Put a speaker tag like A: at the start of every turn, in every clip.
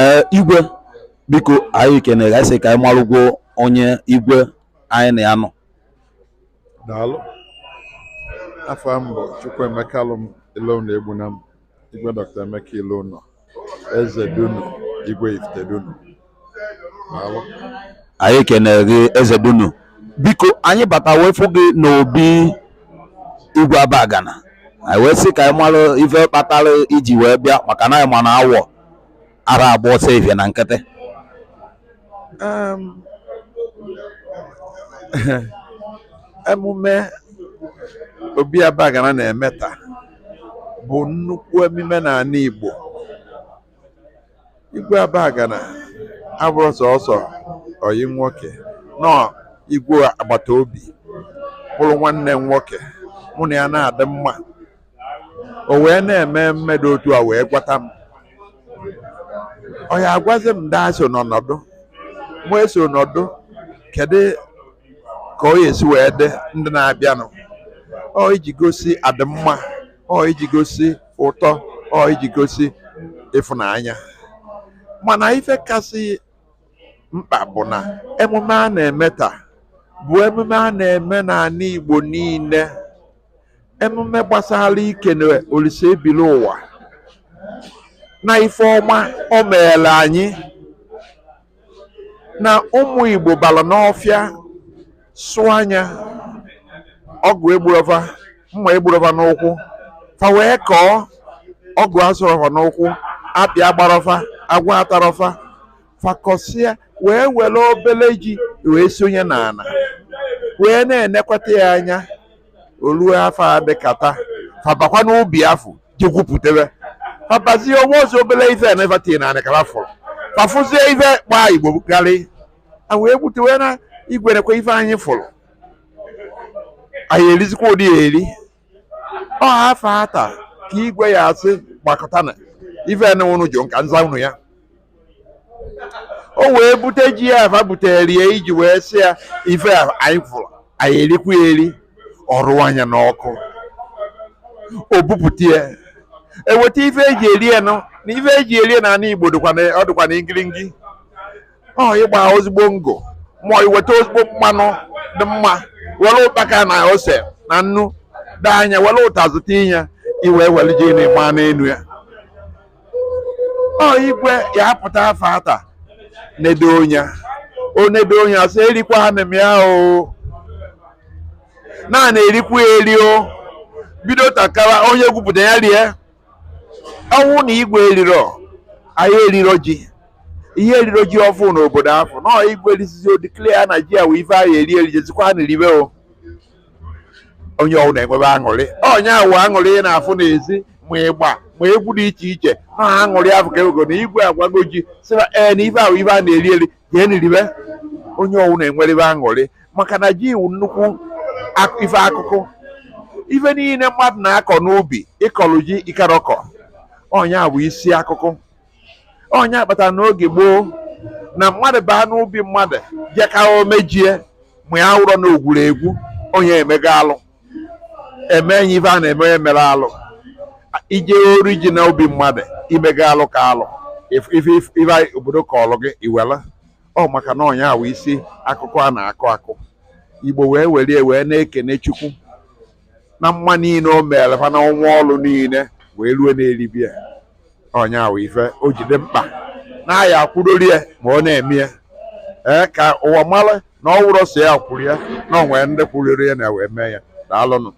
A: ee igwe biko anyị kenere gị sị ka anyị marụgwo onye igwe anyị na ya nọ
B: daalụ afa m bụ Chukwuemeka Alụm Iloụnọ Egbunam Igwe Dr. Emeka Iloụnọ Eze Dunu Igwe Ifite Dunu
A: anyị kenere gị eze dunu biko anyị bata wee fụ gị n'obi igwe abagana anyị wee sị ka anyị mara ife kpatara i ji wee bịa maka na anyị ma na awọ ara agba ọsọ efifie na
B: nkịtị emume obi abagana na-eme taa bụ nnukwu emume n'anị Igbo igwe abagana abụrọ sọsọ oyi nwoke na ọ igwe agbata obi bụrụ nwanne m nwoke mụ na ya na-adị mma o wee na-eme emume dụ otu a wee gwata m ọ ya agwazi m ndị so n'ọnọdụ m wee so nọdụ kedu ka ọ esi wee dị ndị na-abịanụ ọ iji gosi adịmma ọ iji gosi ụtọ ọ iji gosi ịfụnanya mana ife kasị mkpa bụ na emume a na-eme taa bụ emume a na-eme n'anị Igbo niile emume gbasara ikene Olisa ebili ụwa na ife ọma o meere anyị na ụmụ Igbo bara n'ọfịa sụa nya ọgụ egburọ fa mma egburọ fa n'ụkwụ fa wee kọọ ọgụ asụrọ fa n'ụkwụ akpị agbarọ fa agwọ atarọ fa fa kọsịa wee were obele ji wee sonye n'ana wee na-enekwata ya anya o luo afọ a dịka taa fa bakwa n'ubi afụ je gwupụtebe fa bazie ọ bụrọzi obere ife a fa tii na anị ka fa fụrụ fa fụzie ife gbaa igbo karị a wee butewe na igwe nekwa ife anyị fụrụ anyị erizikwa ụdị ya eri ọ afọ ata ka igwe ya asị gbakọta na ife na unu jụ ka m zaa unu ya o wee bute ji ya a fa butere ya iji wee sị ya ife a anyị fụrụ anyị erikwa ya eri ọ rụa nya n'ọkụ o bupụta ya e weta ife e ji eri ya nụ na ife e ji eri ya na anị igbo dịkwa na- ọ dịkwa na ngiringi ọ ịgba ezigbo ngo ma ọ iweta ezigbo mmanụ dị mma were ụkpaka na ose na nnu daa nya were ụtazị tinye ya i wee were ji na ịgba n'elu ya ọ igwe ya apụta afọ ata nedo onya o nedo onya sị erikwa ha mmemme ya o naanị erikwa ya eri o bido takara onye gwupụta ya rie ọ wụ na igwe eriro anyị eriro ji ihe eriro ji ọfụụ n'obodo afụ na igwe erisizi o declare na ji a wụ ife anyị eri eri jezikwa ha na eribe o onye ọwụna enwebe aṅụrị ọ nya wụ aṅụrị ị na-afụ n'ezi ma ịgba ma egwu dị iche iche na aṅụrị afụ ka ewego na igwe awago ji sịba ee na ife ahụ ife a na-eri eri jee na eribe onye ọwụna enwerebe aṅụrị maka na ji wụ nnukwu ife akụkụ ife niile mmadụ na-akọ n'ubi ị kọlụ ji ị karọ kọ ọ nya bụ isi akụkụ ọ nya kpatara n'oge gboo na mmadụ baa n'ubi mmadụ jee kaa ome ji e ma ya wụrọ na o gwuru egwu onye emego alụ e mee nya ife a na-eme onye mere alụ i je ori ji na ubi mmadụ i mego alụ ka alụ if- if- if- ife anyị obodo kọọlụ gị iwela ọ maka na ọ nya wụ isi akụkụ a na-akụ akụ igbo wee werie wee na-ekene chukwu na mma niile o mere fa na ọnwa ọlụ niile wee rue na eribe ya ọ nya wụ ife o ji dị mkpa na a ya akwụdori ya ma ọ na-eme ya ee ka ụwa mara na ọ wụrọ sọ ya kwuru ya na o nwee ndị kwuriri ya na wee mee ya daalụnụ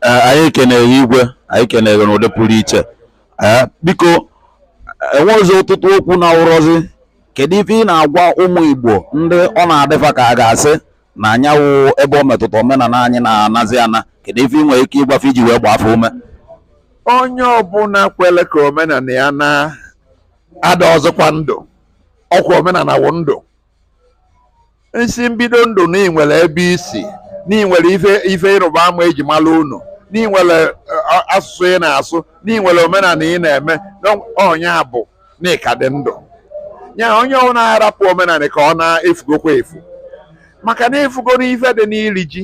A: Ee, anyị kenee gị igwe anyị kenee gị n'ụdị pụrụ iche Ee, biko enwezi ọtụtụ okwu na-awụrọzi kedu ife ị na-agwa ụmụ igbo ndị ọ na-adị fa ka a ga-asị na anyanwụ ebe ọ metụta omenala anyị na-anazi ana kedu ife ị nwere ike ịgwa fa iji wee gbaa fa ume onye
B: ọbụla kwere ka omenala ya naa adịrọzịkwa ndụ ọkwa omenala wụ ndụ n'isi mbido ndụ na ị nwere ebe i si na ị nwere ife ife ịrụba ama eji mara unu na ị nwere eh, asụsụ ị na-asụ na ị nwere omenala ị na-eme na ọ nya bụ na ị ka dị ndụ ya onye ọbụla arapụ omenala ka ọ naa efugokwa efu maka na efugo n'ife dị n'iri ji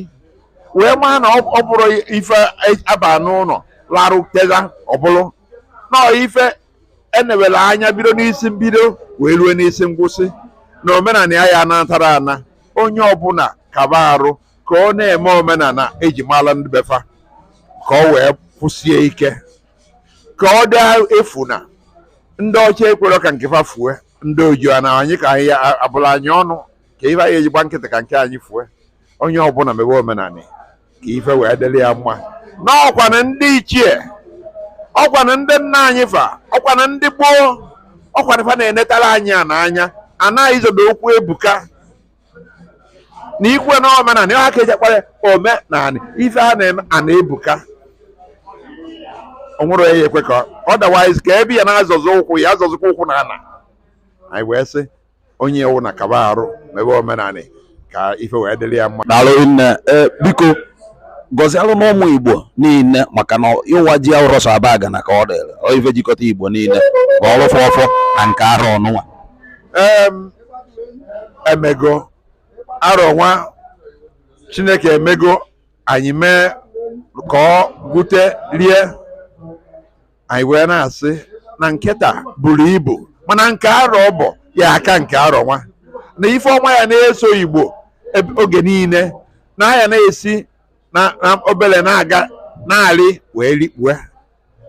B: wee maa na ọ bụrọ ife a ba n'ụlọ larụ teta ọ bụlụ na ife enewere anya bido n'isi mbido wee rue n'isi ngwụsị na omenala ya ya anatara ana onye ọbụla kaba arụ ka ọ na-eme omenala eji mara ndị be fa ka ọ wee kwụsie ike ka ọ dị efu na ndị ọcha ekwerọ ka nke fa fue ndị oji na anyị ka anyị a bụlụ anyị ọnụ kee ife anyị ji agba nkịtị ka nke anyị fue onye ọbụla mebe omenala ka ife wee dịrị ya mma n'ọkwa na ndị ichie ọkwa na ndị nna anyị fa ọkwa na ndị gboo ọkwa na fa na-enetara anyị a n'anya anaghị izodo okwu ebuka na ikwe na omenala ihe aka ejekwara omenala ife a na-eme a na-ebuka onwere ya ekwe ka otherwise ka ebe ya na-azọzọ ụkwụ ya azọzọkwa ụkwụ na ana anyị wee sị onye ọwụna kaba arụ mebe omenala ka ife wee dịrị ya mma daalụ nne
A: e, biko gọzialụ n'ụmụ igbo niile maka na ịwa ji awụrọ sọ abagana ka ọ dịrị ọ ife jikọta igbo niile ka ọ rụfọ ọfọ na nke arọ ọnụnwa
B: emego arọ nwa chineke emego anyị mee ka ọ gwute rie anyị wee na-asị na nke taa buru ibu mana nke arọ ọ bụ ya aka nke arọ nwa na ife ọma ya na-eso igbo eb- oge niile na ya na-esi na na obere na-aga na-arị wee rikpue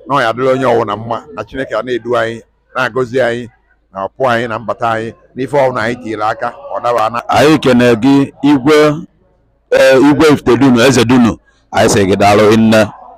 B: na ọ ya adịrị onye ọwụna mma na chineke a na-edu anyị na-agọzi anyị na ọpụ anyị na mbata anyị n'ife ọwụna anyị tinyere aka ọ daba na anyị kene
A: gị igwe ee, igwe ifitedunu eze dunu anyị sị gị daalụ nne